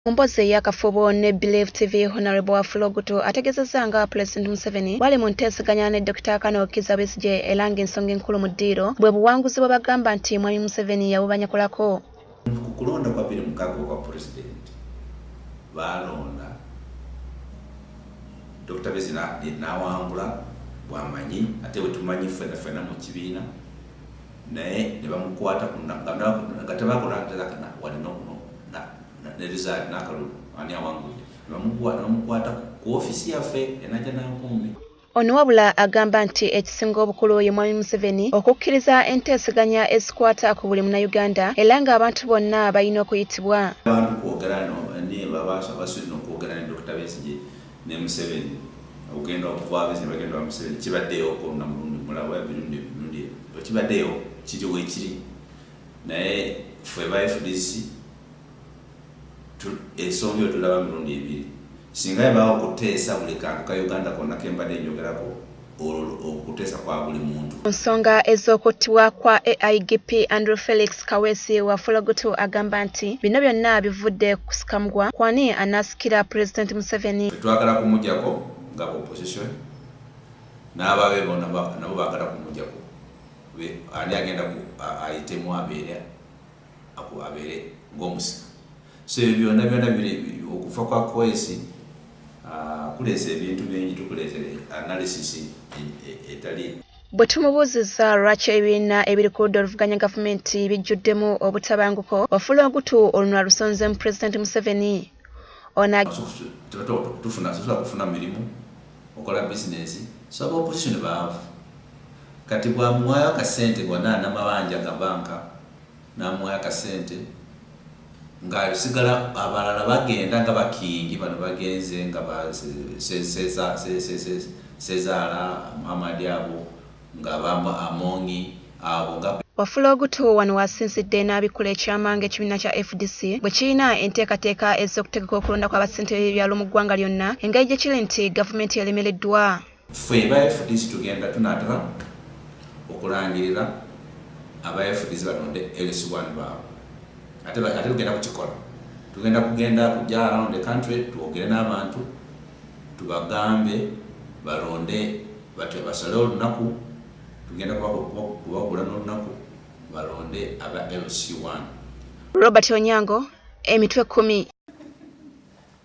Ombozi eyakafubo ne Believe TV Honorable Wafula Ogutu ategezezza nga Pulezidenti Museveni bwali mu nteeseganya ne Dokita Kano Kizza Besigye era ng'ensonga enkulu mu ddiiro bwe buwanguzi bwe bagamba nti Mwami Museveni yabubanyakulako. Ku kulonda kwa bbiri mukaaga okwa pulezidenti baalonda Dr. Bezi n'awangula bwamanyi ate bwetumanyi ffena ffena mu kibiina naye ne bamukwata nga tebakulangirakana walina okuno ne rizaali n'akalulu ani awangudde ne bamukwata ku ofisi yaffe enaja nankumbi Ono wabula agamba nti ekisinga obukulu ye Mwami Museveni okukkiriza enteeseganya ezikwata ku buli Munnayuganda era ng'abantu bonna balina okuyitibwa. Abantu kwogera no okwogera ne Dokita Besigye ne Museveni okugenda okuva Besigye bagenda wa Museveni kibaddeyo ko na mulundi mulala oba emirundi emirundi ebiri kibaddeyo kiri wekiri naye ffe ba FDC ensonga eyo tulaba mirundi ebiri singa yabaawo okuteesa buli kantu ka uganda konna ke mbadde njogerako olwo okuteesa kwa buli muntu ku nsonga ez'okuttibwa kwa aigp andrew felix kaweesi wa fologutu agamba nti bino byonna bivudde kusikamgwa kwani anaasikira pulezidenti museveni twagala kumujako nga opposition n'ababe bona nabo baagala kumujako ani agenda ayitemu abeera akuabere ngomusika so ebyo byona byona biri okufa kwa kwesi ah, kuleza ebintu bingi tukuleza analysis e, e, etali Bwe tumubuuzizza lwaki ebibiina ebiri ku ludda oluvuganya gavumenti bijjuddemu obutabanguko, ofula ogutu oluno alusonzemu Pulezidenti Museveni. Onatufuna kufuna mirimu okola bizinesi soba opozisoni baavu kati bwamuwaayo akasente bwona namabanja gabanka namuwayo akasente ngasigala abalala bagenda nga bakingi bano bagenze nga sezaala muhamadi abo nga bamba amongi abo nga Wafula Ogutu wano wasinzidde n'abikkula ekyama ng'ekibiina kya fdc bwe kirina enteekateeka ez'okutegeka okulonda kw'abassentebe b'ebyalo mu ggwanga lyonna engeri gye kiri nti gavumenti elemereddwa. Ffe aba FDC tugenda tunatera okulangirira aba FDC balonde LC1 baabwe ate ate tugenda kukikola tugenda kugenda kujja around the country twogere n'abantu tubagambe balonde batyo basale olunaku tugenda kubagula n'olunaku balonde aba LC1 Robert Onyango emitwe kumi